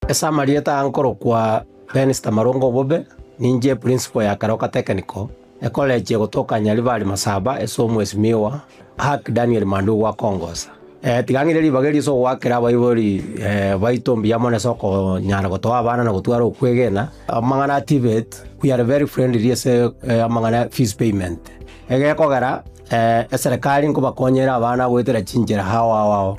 Ase amarieta aya nkorokwa Benz Tamarongo Obobe, ninche eprinsipal ya Karoka Technical, ekolechi egotoka Nyaribari Masaba ase omwesi Miwa, Ark Daniel Mandugu akongosa. Tiga ng'ire ribaga erio ase ogoakera abaibori baito mbuya mono ase okonyara gotoa abana na gotwara okwegena. Amang'ana a TVET, we are very friendly ase amang'ana ya fees payment. Egekogera, eserekari nkobakonye ere abana goetera chinchera ao ao ao.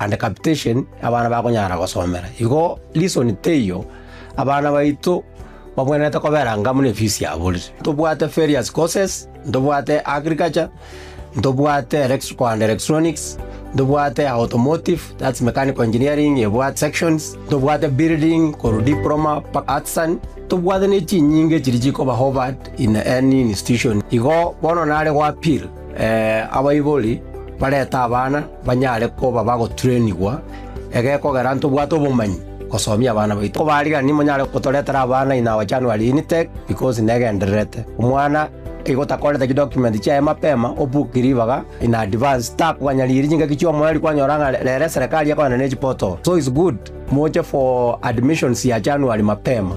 and capitation abana bakonyara gosomera. Igo reason teiyo abana baito babwenerete kobera anga buna efisi yabo rire. Ntobwate various courses, ntobwate agriculture, ntobwate electrical and electronics, ntobwate automotive that's mechanical engineering ebwate sections, ntobwate building korwa diploma mpaka artisan, ntobwate ne chinyinga echiria chikoba offered in any institution. Igo bono nare goappeal Abaibori barete abana banyare koba bagoturenigwa, egekogera ntobwate obomanyi gosomia abana baito. Kobarigani monyare gotoretera abana in our January intake because negendererete. Omwana igo otakorete chidocument chiaye mapema obook ribaga in advance takoganyariiri chingaki chiomoreri kwanyora ng'a rero eserekari ekogenda ne chiportal so is good moche for admissions ya January mapema.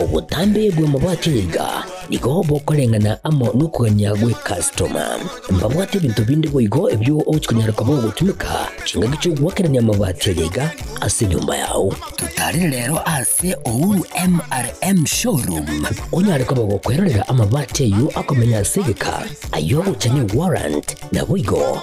Obotambe bw'amabwato iga nigo bokoreng'ana amo nokogania gwe customer. Mbabwate ebinto binde boigo ebio ochikonyara koba ogotumeka chingaki chi'ogoakerania amabati aye iga ase enyomba yao. Totarire rero ase Uhuru MRM Showroom onyare koba gokwerorera amabati ayio akomenya ase egeka, ayio ogochania warrant, naboigo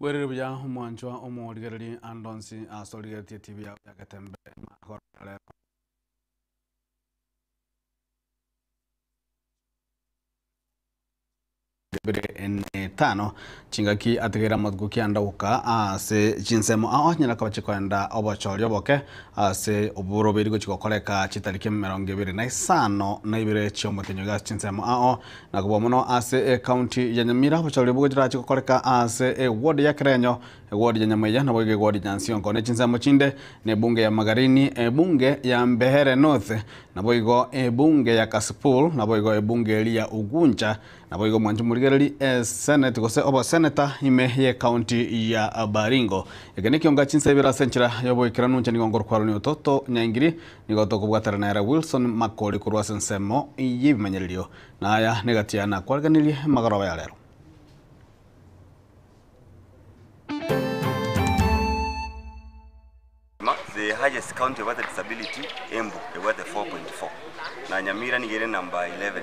Bwerire buya omwanchwa omorigereri ande onsi ase origeretie tibi yao ya getembe magoro aya rero. bire n'etano chingaki ategeire amatuko kianda goka ase chinsemo ao nyara akaba chikoenda obochori oboke ase oboro biri gochi gokoreka chitari kiemerongo ebere na isano na ibere chi'omotenyoge ase chinsemo ao na kobua mono ase ecounty ya Nyamira, obochorori bogochirache gokoreka ase eward ya Kerenyo, eward ya Nyamweya, naboigo eward ya Nsionko. Ne chinsemo chinde nebunge ya Magarini, ebunge ya Mbeere North, naboigo ebunge ya Kasipul, naboigo ebunge eria ya Ugunja, naboigo mwanchi morigereri esenate gose oboseneta ime y'ecounty ya Baringo. Eke nekio nga chinsa ibere ase enchera y'oboikeranu nchani gokorokwaro nyototo nyaingiri, Nigo tokobwaterana ere Wilson Makori korwa ase ensemo y'ebimanyererio, na aya negati yaye nakwaregenirie magoroba ya rero. The highest county ebwate disability, Embu ebwate 4.4 na Nyamira nigo ere number 11.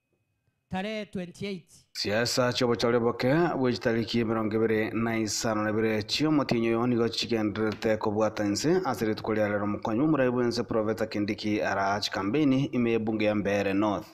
Tarehe 28. Chiesa chi'obochori boke bwe chitariki emerongo ebere na isano na ibere chi'omotienyi oyo nigo chigendererete kobwata ense ase rituko ria rero Mokong'u Morai bw'ense Profeta Kindiki araa chikambeini ime y'ebunge ya Mbeere North.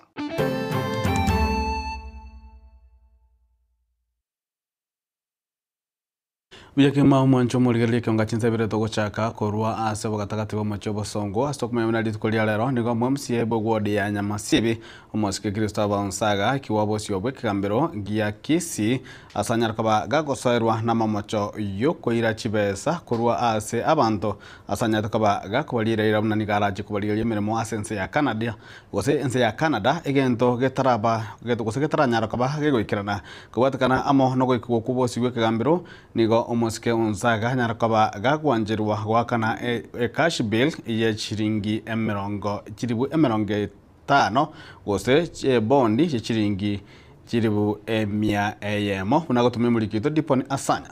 Buya kegima omwancho omorigereria ekionga chinsa ibere togochaka korwa ase obogatagati bw'omochie obosongo. Ase okomanya buna rituko ria rero nigo omwamsie bwe wodi ya Nyamasibi, omosike Kristo abe onsi agaakigwa bosio bw'ekegambero gia Kisii, ase anyare koba gagosoerwa namamocho y'okoira chibesa korwa ase abanto, ase anyarete koba gakobariera eira buna nigo arachie kobarigeria emeremo ase ense ya Canada. gose ense ya Canada, egento getaraba gose getaranyara koba gegoikerana. Kobwatekana amo nogoikigwa kw'obosio bw'ekegambero, nigo omosike onsi aganyara koba gagwancherwa goakana ecash bill ye chiringi emerongo chilifu emerongo etano gose ebondi ye chiringi chilifu emia eyemo buna agotumia omoriki oito Dippon Asanya.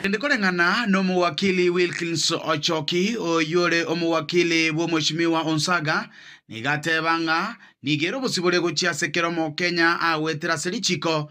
Naende koreng'ana n'omowakili Wilkins Ochoki, oyore omowakili bw'omochimiwa Onsaga, nigo ateba ng'a nigo ere obosibore gochia ase kera Omokenya agoetera ase richiko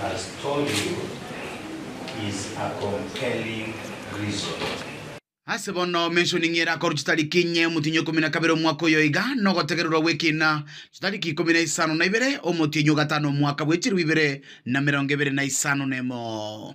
has told you is a compelling reason. Ase bono mentioning ere akorwa chitariki inye omotienyi ikomi na kabere omwaka oyo iga nogotegererwa gw'ekina chitariki ikomi na isano na ibere omotienyi ogatano omwaka bw'echirwe ibere na merongo ebere na isano nemo.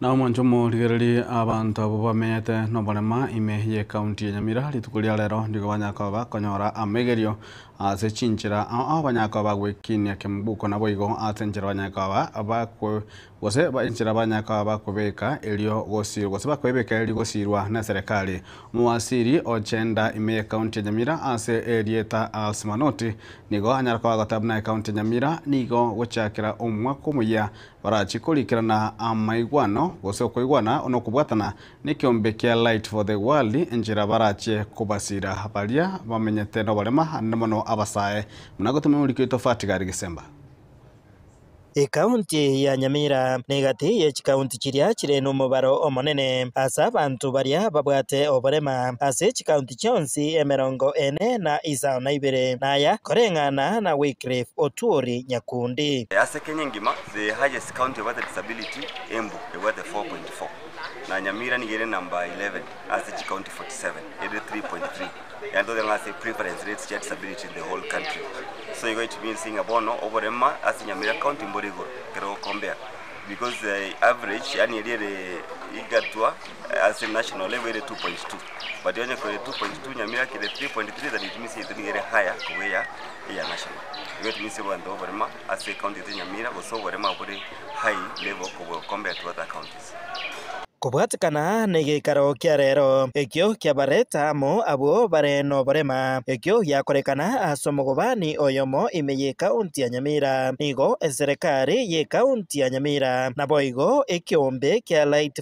Na omonto omorigererie abanto abwo bamenyete noborema ime y'ecounty ya Nyamira rituko ria rero nigo banyakoba konyora amaigerio ase chinchera ao banyakoba gwekinia kembuko naboigo ase enchera banyakoba bakwe gose enchera banyakoba bakobeka erio gosirwa gose bakoebeka erio gosirwa neserekari. Omowasiri ochenda ime y'ecounty ya Nyamira ase erieta Alse Manoti nigo anyara koba goteba buna ecounty ya Nyamira nigo gochakera omwaka omoyia barachie korikerana amaigwano, gose okoigwana nokobwatana, nekeombe kia Light for the World, enchera barachie kobasira baria bamenyete noborema, naende mono abasae, buna gotema emoriko yaito Fatgard Gisemba. Ekaunti ya Nyamira negati ye chikaunti chiria chire nomobaro omonene ase abanto baria babwate oborema ase chikaunti chionsi emerongo ene na isano na ibere, na aya koreng'ana na Wycliffe Otuori Nyakundi. Kenya engima the highest county ebwate disability Embu ebwate 4.4 na Nyamira nigo ere number 11 ase chi county 47 ere 3.3 yaani togoteba ng'a ase prevalence rates chia disability in the whole country so igo it means ng'a bono oborema ase Nyamira county mbore igoro ekero o compare because the average yaani eria ere egatwa ase national level ere 2.2 but onye kore 2.2 Nyamira kere 3.3 then it means yaito nigo ere higher kobu eya eya national igo it means abanto oborema ase ekaunti yaito ya Nyamira gose oborema bore hai neibo kobua compared to other counties. Kobwatekana negeikaro kia rero, ekio kiabareta amo abwo bare noborema, ekio giakorekana ase omogobani oyomo ime y'ekaunti ya Nyamira, nigo eserekari y'ekaunti ya Nyamira naboigo ekeombe kia Light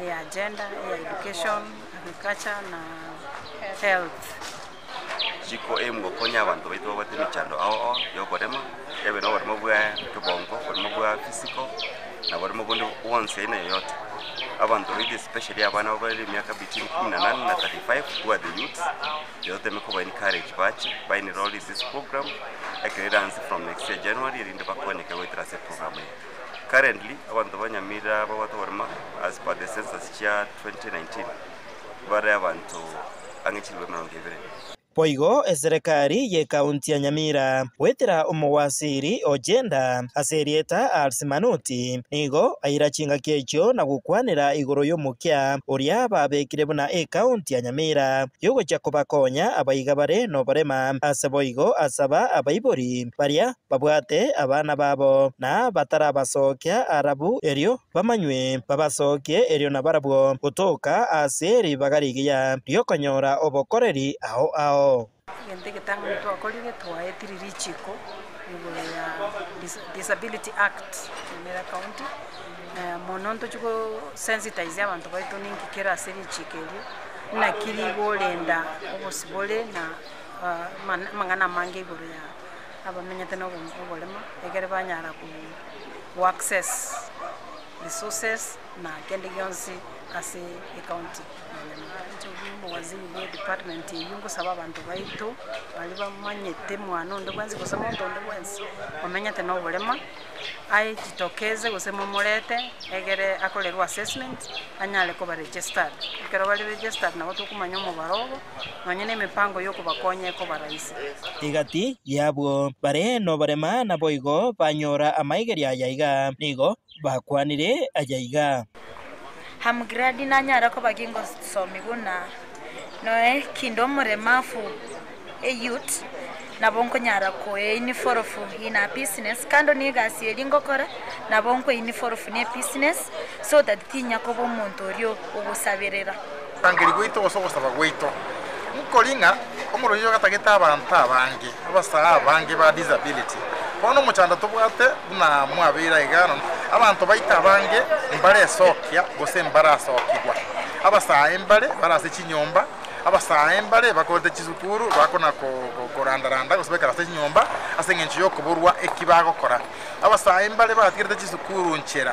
eya gender, eya education, agriculture na health. Chiko eye mogokonya abanto baito babwate emechando ao ao ya oboremo, ebe na oboremo bwa kebongo, oboremo bwa physical, na oboremo bonde bwonsi aina yoyote. Abanto baito especially abana abare ne emiaka between kumi na nane na thirty five who are the youths, toteme koba encourage bache ba enrolled in this program, ekero eranse from next year January erinde bakonyeke goetera ase eprogramu eye. Currently abanto ba Nyamira babwate oborema as per the census chia 2019 bare abanto ang'e chilifu emerongo ebere. Boigo eserekari y'ekaunti ya Nyamira goetera omowasiri o Jenda ase erieta Ars Manoti nigo aira chingaki echio na gokwanera igoro y'omokia oria babekire buna ekaunti ya Nyamira y'ogochia kobakonya abaiga bare noborema ase boigo asaba abaibori baria babwate abana babo, na batarabasookia arabu erio bamanywe, babasookie erio nabarabwo, gotoka ase ribaga rigiya ri'okonyora obokoreri ao ao. Egento egetang'ani twakorire, twaetire richiiko igoro ya Disability Act Nyamira County, mono ntochie go sensitize abanto baito ninki kere ase richiiko erio, naki rigorenda obosibore na amang'ana amange igoro ya abamenyete na oboremo ekere banyara ku access resources na kende gionsi ase ecounty ya Nyamagabe. Inche oria omowaziri bwe department eyio ngosaba abanto baito baria bamanyete mwane onde bwensi gose omonto onde bwensi omenyete na oborema aejitokeze gose momorete egere akorerwe assessment anyare koba registered ekero bare registered nabo tokomanya omobaro obo. nonya nemepango yokobakonya ekoba raisi. Egati y'abwo bare noborema naboigo banyora amaigerio aya iga, nigo bakwanire aya iga. Hamgiradi nanyare koba gingosomi buna noe kinde omoremafu eyut nabo nkonyara koeiniforofu in a business kando negasi eria ngokora nabo nkoeiniforofu ne ebusiness so that tinya koba omonto oria ogosaberera. Okorangeria gwaito gose ogosaba gwaito nkori ng'a omoroisia ogatagete abanto abange abasae abange ba disability. Bono omochando tobwate buna mwabeire aiga nonya abanto baito abange mbaresokia gose mbarasokigwa. Abasae mbare bare ase chinyomba, abasae mbare bakorete chisukuru bakona koranda randa gose baikare ase chinyomba ase eng'encho yokoborwa eki bagokora. Abasae mbare batigerete chisukuru nchera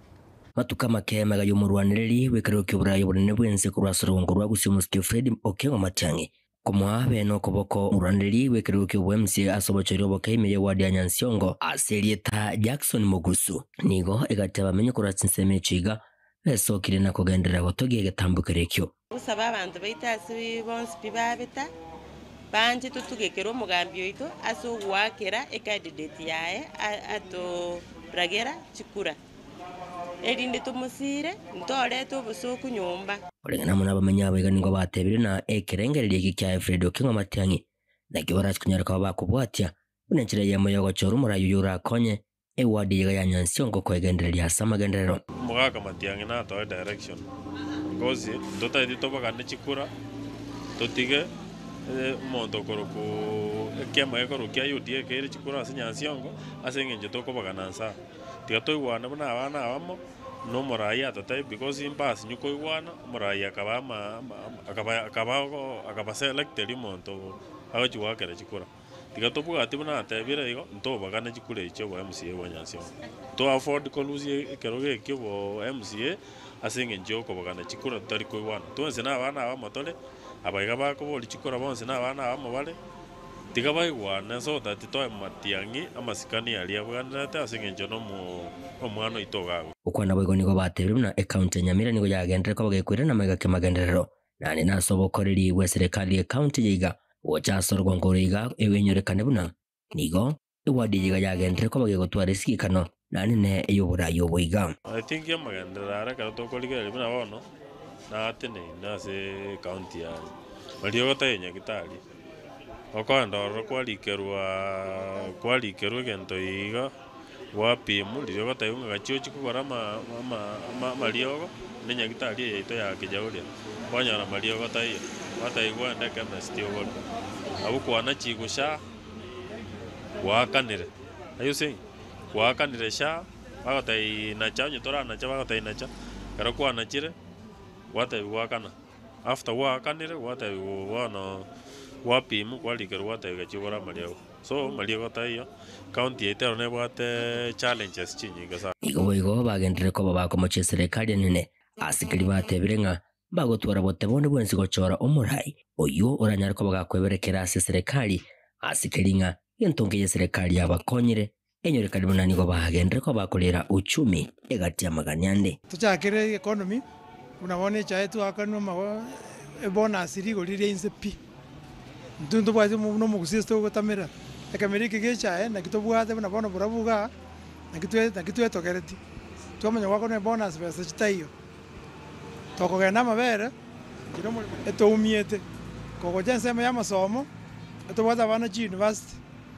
Matuko amake y'emegaga y'omorwanereri bw'ekerero ki'oboraai obonene bw'ense korwa ase orogongo rwa gusii omosike Fred Okengo Matiang'i, komoa bene okoboko omorwanereri bw'ekerero ki'oboemsie ase obochoiri oboke ime y'ewadi ya Nyansiongo ase erieta Jackson Mogusu. Nigo egatebia abamenyi korwa chinsemo echi iga besokire na kogenderera gotogia egetambo keria ekio. Tosabe abanto baito ase bonsi pi babeta, banche totugekere omogambi oito ase ogoakera ecandidate yaye atoragera chikura, erinde tomosire ntorete obosooku nyomba. Korende namana abamenya aba iga nigo batebire ng'a ekerengererio eke kia Efredi Okengo Matiang'i nakio barase konyara koba bakobwatia, buna enchera eyemo y'ogochora omorai oyio orakonye Ewadi eyio iga ya nyansi ongo koegendereria ase amagenderero. Omogaka Matiang'i natoe direction because ntotaeti tobagane chikura totige omonto okoroku ekiama gekorwa kia UDA ekeire chikura ase nyansi ongo ase engencho tokobagana nsaa. Tiga toigwane buna abana abamo na omoraai atatebie because impass nyo koigwana omoraai akaba ama akaba akaba akaba selected omonto agochi goakera chikura. Tiga tobwate buna atebire igo, ntobagane chikura echi obo MCA bwa Nyansemo. Nto afford korusia ekerogo eki obo MCA ase engencho y'okobagana chikura totari koigwana. Twensi nabana abamo tore, aba iga bakoboria chikura bonsi nabana abamo bare. Tiga baigwane so that toe matiang'i amasikani aria abwenerete ase engencho nomwana oito ogakwa. Okwana boigo nigo batebire buna ecounty ya Nyamira nigo yagenderere koba gekwirana amaiga kimagenderero. Naende nase ogokorerigwe eserekari ye county ye iga gocha ase orwango oro iga egwenyorekane buna nigo ewadi eye iga yagenderire koba gegotwara esigikano naende ne ey'oboraai obo iga. Aye tinki amagenderero are ekero tokorigereria buna bono naateneine ase ecounty yane. Mariogo tari enyagitari. Okoenda ororo kwarikerwa kwarikerwa egento iga Gwapimwa riogo taibo ng'a gachia ochia kogora amariogo na enyagitari eye yaito ya Kijauri. Kwanyora amariogo taiyo, gwataiyo gwende ekemesiti ogore. Abwo kwana chiiko sha, gwakanire. Are you seeing? Gwakanire sha, bagotaiyi nacha onye toranacha bagotaiyi nacha. Ekero kwanachire, gwataiyo gwakana. After gwakanire gwataiyo bono gwapimwa kwarikerwa gwataiyo gachia ogora amariogo. So mariogo taiyo, county yaito ero nebwate challenges chinyinge sana. Igo boigo bagenderire koba bakomochia eserekari enene. Aasikeri batebire ng'a bagotwora bote bonde bwensi gochora omorai oyio oranyare koba gakweberekera ase eserekari. Aasikeri ng'a gento nkey'eserekari yabakonyire. Enyore karibu na nigo bagenderere koba bakorera uchumi egati y'amagania ande. Tochakere economy buna bono echaetwe akanwa amago ebonus rigori riria inse pi. Intwe ntobwati buna omogusi ase togotamera ekemeri eke gechae naki tobwate buna bono borabu igaa naki twe naki twetogereti. Twamanya gwakorwa ebonus besa chitaiyo tokogenda amabere kera omorembe etoumiete kogocha ensemo y'amasomo etobwate abana chiuniversity.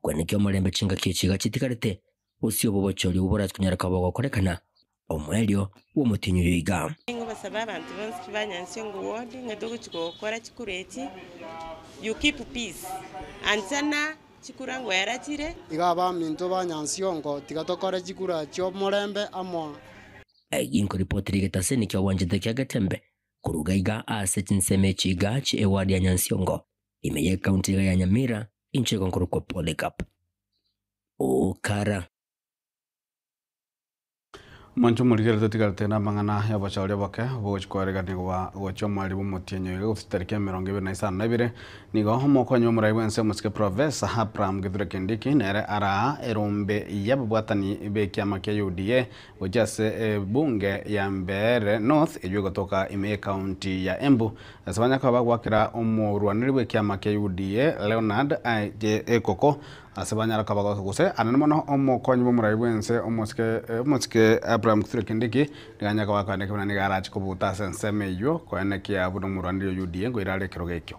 Kweneka omorembe chingaki echi iga chitigarete, gose obogochi oria oborachia konyoreka bogokorekana, omoerio bw'omotienyi oyo iga. Nigo basabe abanto bonsi ki banyansie ng'o wodi ng'ete ogochi gokora chikura echi you keep peace ancha na chikura ng'o erachire. Iga abaminto banyansie ong'o tiga tokore chikura chi'omorembe amo. Egi nko ripoti rigete ase niki ogwanchete kia getembe koruga iga aase chinsemo echi iga chi ewadi ya nyansie ong'o. Ime y'ekaunti iga ya Nyamira inche igo nkorokwa Polycarp Okara. Monto morigere totigarete namang'ana y'oboshauri oboke bogochia koeregania goba gochia omweri bw'omotienyi oyoiga gose tariki emerongo ebere na isano nebere nigo omokonyi omorai bwense omosike Professor Abraham Kithure Kindiki nere araa erombe y'ababwatani b'ekiama kia UDA gochia ase ebunge ya Mbeere North eywo egotoka ime y'ecounty ya Embu, ase banya koba bagoakera omorwaneri bw'ekiama kia UDA Leonard Aye Ekoko, ase banyare koba bagoaka gose aria mono omokonyi bw'omorai bw'ense omosike omosike Abraham Kithure Kindiki nigo anyare koba akoenda ekibe naende nigo arache kobuta ase ensemo eywo koenda ekiya buna omorwaneri o UDA ngoira are ekerogo ekio.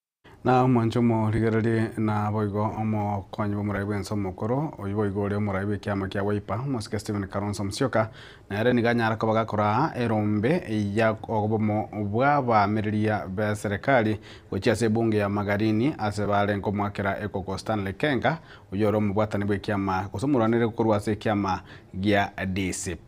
Na omwanche omorigererie naboigo omokonyi bw'omorai bw'ense omokoro, oyio boigo ore omorai bw'ekiama kia Wiper, omosike Stephen Kalonzo Musyoka, nere nigo anyare koba gakoraa erombe ya obomo bw'abaamereria b'eserekari gochia ase ebunge ya Magarini ase bare nkomoakera ekoko Stanley Kenga, oyio ore omobwatani bw'ekiama gose omorwaneri korwa ase ekiama gia DCP.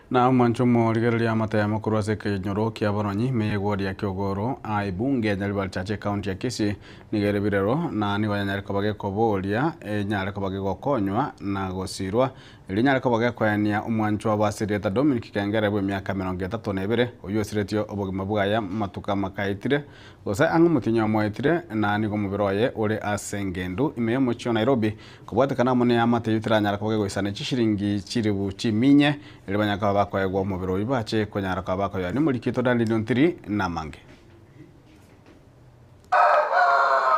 Na omwancha omorigereria amatemo korwa ase ekenyoro ki'abaronyi, meyegwa oria ki'ogoro, aaibu, ngeenya Rivalchache ekaunti ya Kisii, nigo ere birero, na nigo yanyare koba gekobooria, enyare koba gegokonywa, na gosiirwa, erio enyare koba gekoenia omwanchwa obo ase erieta Dominic Kengere bw'emiaka emerongo etato na ebere, oyio osiretie obogima bwaye amatuko amakaetire, gose ang'e omotienyi oyomoetire, na nigo omobere oye ore ase engendu ime y'omochie o Nairobi, Kobwatekana amo neamate eyio teranyara koba kegoisana echishiringi chiribu chiminye, erio banyare koba bakoegwa omobere oyio bache konyara koba bakoyoa nemorikito naende niontiri namange.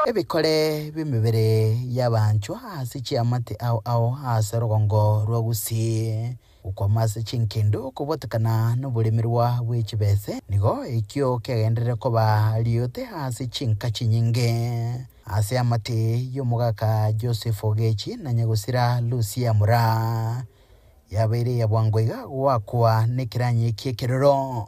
Ebikore bi'emebere y'abanchwa ase chiamate ao ao ase rogongo rwa Gusii. Gokwama ase chinkendo kobwatekana noboremerwa bwe chibese nigo ekio kiagenderere koba riote ase chinka chinyinge. Ase amate y'omogaka Joseph Ogechi na nyagosira Lucia Mura, yabeire eya bwango iga goakwa nekeranyi eki ekeroro.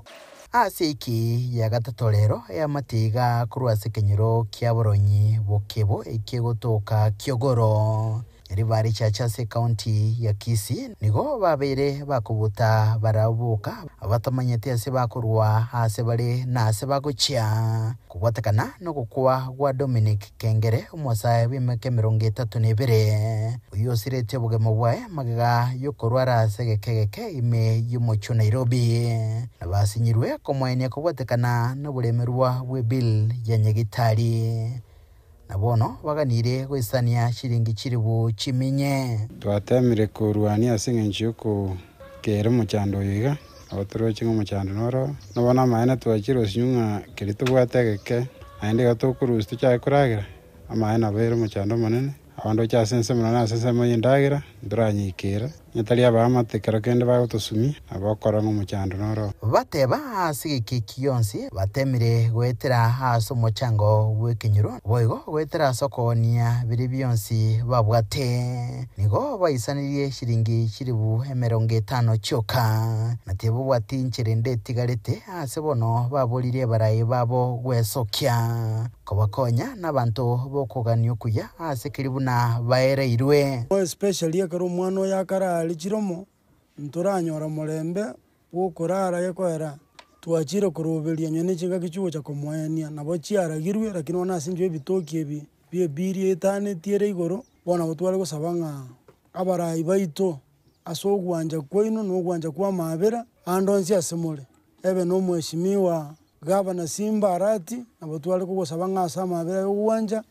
Ase eki gia gatato rero eamate iga korwa ase ekenyoro kia boronyi bokebo eki'egotoka ki'ogoro. Erio barichache ase ekaunti ya Kisii, nigo babeire bakobuta barabwo boka abatamanyeti ase bakorwa aase bare na aase bagochia, kobwatekana nogokwa gwa Dominic Kengere, omosae bw'emeke emerongo etato na ebere, oyio osiretie obogima bwaye magega yokorwara ase egeke egeke ime y'omochie o Nairobi, na basinyirwe komoenia kobwatekana noboremerwa bwe bill ya nyagitari. na bono baganire goisania chiringi chilifu chiminye. Twateemire koruania ase engencho y'okokera omochando oyo iga, nabo toroche ng'a omochando noro oo. Nabo namaene twachirosinwe ng'a keria tobwate egeke, naende iga tokorusia tochake koragera, amaene nabo ere omochando omonene. Abanto bache ase ense buna nase ensemo y'endagera, ntoranyikera. Natari abaamate kero kende bagotosumia, na bokora ng'a omochando nore oo. Bateba ase egekeki gionsi, batemire goetera ase omochango bw'ekenyoro, boigo goetera ase okogania biria bionsi babwate. Nigo baisanirie chiringi chilifu emerongo etano chioka. Na tibabwati inchera ende etigarete, ase bono baboririe abarai babo gwesokia. Kobakonya nabanto bokogania okuya aase keria buna baereirwe. More especially ekero omwana oye akarare chiromo, ntoranyora omorembe bw'okorara gekoera twachire koroberia onye nechingaki chigocha komoenia nabo chiaragirwe lakini bono ase enchera ebitoki ebi bie biria etanetie ere igoro bono nabo tware gosaba ng'a abarai baito Ase ogwancha kwaino na ogwancha kw'amaabera ande onsi ase more, ebe na Omweshimiwa Gavana Simba Arati, nabo tware kogosaba ng'a ase amaabera y'ogwancha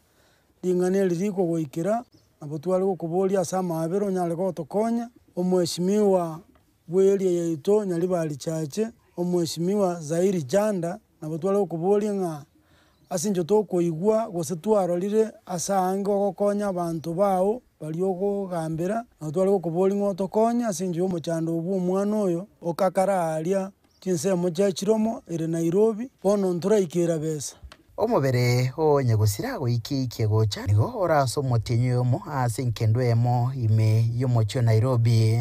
ring'ana eri rikogoikera, nabo tware gokoboria ase amaabera onyare gotokonya, Omweshimiwa bw'eria yaito Nyaribari Chache, Omweshimiwa Zairi Chanda, Nabo tware okoboria ng'a ase inche tokoigwa gose twarorire ase aange ogokonya abanto bao baria ogogambera, nabo tware gokoboria ng'a otokonye ase engencho y'omochando oo bw'omwana oyo okakara aaria chinsemo chiaye chiromo ere Nairobi, bono ntoraike erabesa. Omobere oo onye gosira goikia-ikia gocha nigo ore ase omotienyi oyomo ase enkendwa eyemo ime y'omochie o Nairobi.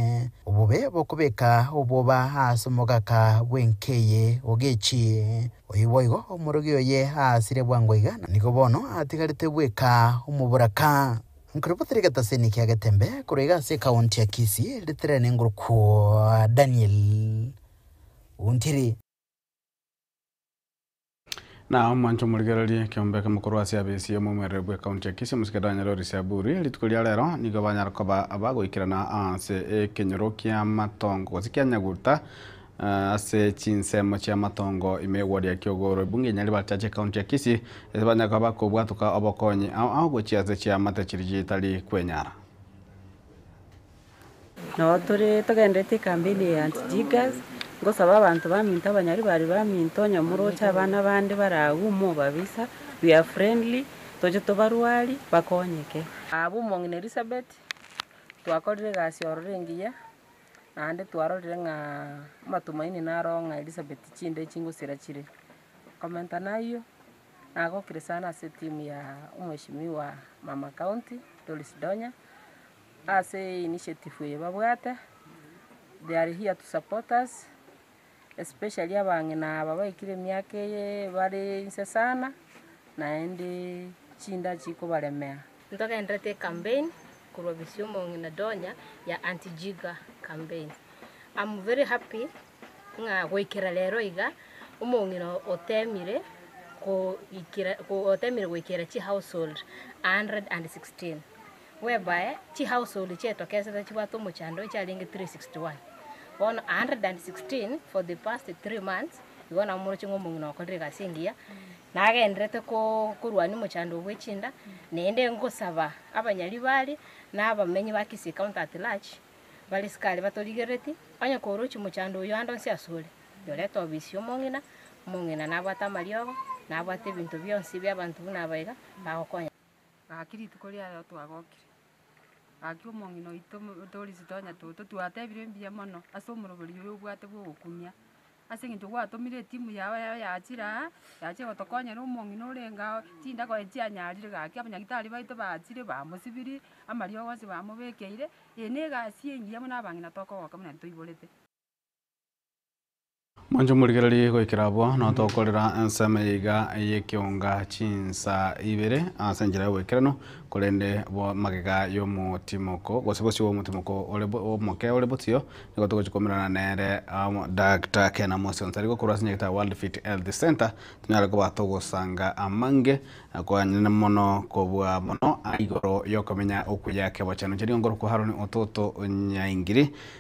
Obobe bokobeka obwoba aase omogaka bw'enka eye ogechie. Oyo boigo omorogi oye aasire bwango iga, na nigo bono atigarete bweka omoboraka. Nkore botari egetaseni ki'agetembe korwa iga ase ekaonti ya Kisii riterere nengorokwo Daniel Ontiri. Na omwancha omorigereria ekeombeke mokorwa ase ab'esie omomwereri bw'ekaunti ya Kisii, Omosikeri Daniel Orisiaburi, rituko ria rero nigo banyare koba abagoikerana ase ekenyoro ki'amatongo gose kia Nyaguta ase chinsemo chi'amatongo ime eward ya Kiogoro. Ebunge eye nario bachache ekaunti ya Kisii ase banyare koba bakobwatoka obokonyi ao ao gochia ase chiamate chiria chitari kwenyara. Nabo tore togendererete ekambeni eye y'Antijigas, ngosaba abanto baminto abanyari bare baminto, onye moroche abana bande bare agwo, mobabisa, we are friendly, toche tobarwari, bakonyeke. Abwo omong'ina Elisabeth, twakorire egasi ororo engiya, naende twarorire ng'a amatumaini naro oo ng'a Elisabeth chinde chingosira chire. Komenta nayio, nagokire sana ase etimu ya omweshimiwa mama county Doris Donya. Ase initiative eye babwate, they are here to support us, especially abang'ina aba baikire emiaka eye bare inse sana, naende chinda chikobaremea. Ntogenderete ecampaign korwa bosio omong'ina Donya ya Auntie Jiga campaign. Am very happy ng'a goikera rero iga omong'ina otemire goikera otemire goikera chihousehold a hundred and sixteen. whereby chihaushold chi'etokesete chibwate omochando echiarenge 361. Bono 116 for the past three months igo namoroche ng'a omong'ina okorire egasi engiya, nagendererete korwania omochando bwe chinda, naende ngosaba abanyari bare na abamenyi ba Kisii County at large bare sikari batorigerereti, onye korochi mochando oyio ande onsi asore, yorete obisi y'omong'ina, omong'ina nabwate amariogo, nabwate ebinto bionsi bi'abanto buna aba iga, bagokonya. Gaki rituko ria rero twagokire, gaki omong'ina oito Dorisi tonya toto, twatebire mbuya mono ase omorobori oyo obwate bw'ogokumia, ase eng'encho gwatomire etimu yao eye yachire aa, yachire gotokonyera omong'ina orenge ao, chindago echi chianyarire gaki abanyagitari baito bachire bamosibirie, amariogo onsi bamobekeire, eye na egasi engiya buna abang'ina tokogoka buna toiborete. Mwanche omorigererie goikera abwo, na tokorera ensemo eye iga y'ekeonga chinsa ibere ase enchera y'oboikeranu, korende bwa magega y'omotimoko, gose bosio bw'omotimoko ore omoke ore bosio, nigo togochia koimerana nere amo Dagita Ken Amosi Onsari gokorwa ase enyegete ya World Fit Health Centre, tonyare koba togosanga amange kwanene mono kobua mono igoro y'okomenya okuya kebochano. Chiria nkorokwa Haroni Ototo Nyaingiri.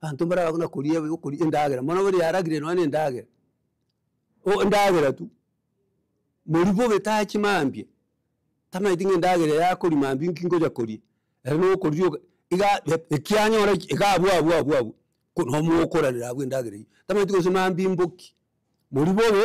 Abanto mbarabagwe na koria ebi- okoria endagera, mono bono yaragire nonya na endagera, oh endagera tu. Moria bobe tachi mambia, tamanyeti ng'a endagera eye akoria mambia inki ngocha koria, ere nigo okoria oka iga eb- ekianyora eki iga abwo abwo abwo abwo, ko- nomogokoranera abwo endagera eyio, tamanyeti gose mambia imboki, moria bobe.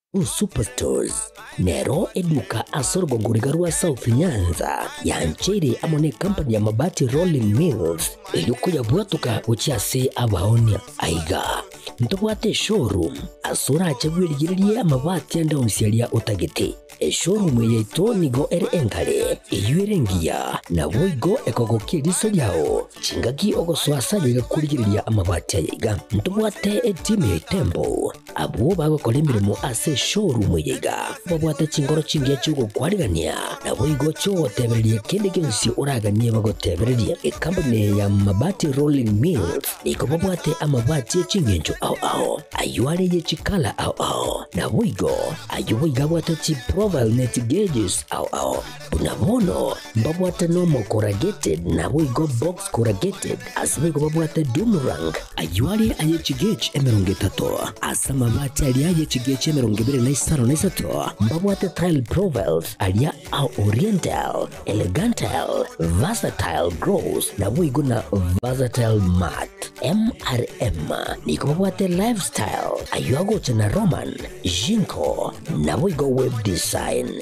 Superstores nero eduka ase orogogoriga rwa South Nyanza yancheire amo nekampani ya Mabati Rolling Mills erio koyabwatoka gochia ase abaonia. Aiga, ntobwate eshowroom ase orache bwerigererie amabati ande onsi aria otagete. Eshowroom yaito nigo ere enkare, eyio ere engiya, naboigo ekogokia eriso riao chingaki ogosoa ase ayo egakorigereria amabati aya iga. Ntobwate eteam ya Itembo, Abwo bagokora emeremo ase eshorumu eye iga babwate chinkoro chingiya chi'ogokwanigania, naboigo chi'ogotebereria kende gionsi oraganie bagotebererie. Ekampuni eye ya Mabati Rolling Mills nigo babwate amabati e chingencho ao ao, ayio are ye chikala ao ao, naboigo ayio boigo abwate chiprofile ne chigauges ao ao. Buna bono mbabwate Normal Corrugated naboigo Box Corrugated, aseboigo babwate Doomrank, ayio are aye chigechi emerongo etato, ase amabati aria aye chigechi emerongo ebere na isano na isato mbabwate Tile Profiles aria a Oriental, Elegantile, Versatile Grows naboigo na Versatile Mat. MRM nigo babwate Lifestyle, ayio agocha na Roman, Jinko, naboigo Web Design.